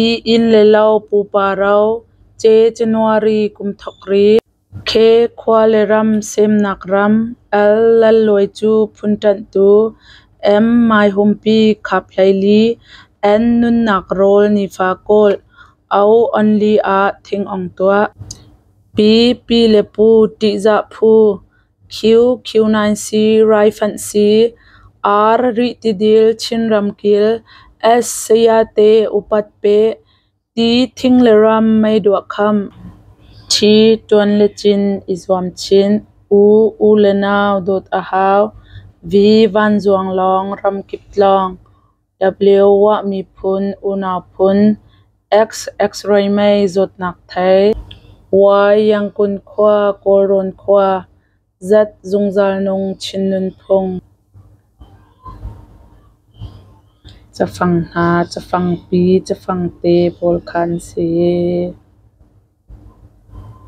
I inn le lo pupa ro, ce January kum thok ri, khe khua le ram semnak ram, al lalluai cu phun ṭanhtu, em maihumpi khap hleili, en nunnak rawl nifa kawl, au onli ah thingong tuah, pi pi le pu ṭihzah phu. Q Q9 si raifanh si R Rihtidil Chinram kil S Sayate upat peh ti thing le ram mei duah kham T ṭuan le cin i zuam chin U U le nau dawt a hau V Vanzuang lawng ram kip tlawng W ah miphun, unau phun, X X-ray mei zawtnak thei, Y Yangon khua, Kawlrawn khua, Z zungzal nung Chin nunphung. Cafang hna, cafangpi, cafangte pawl kha an si.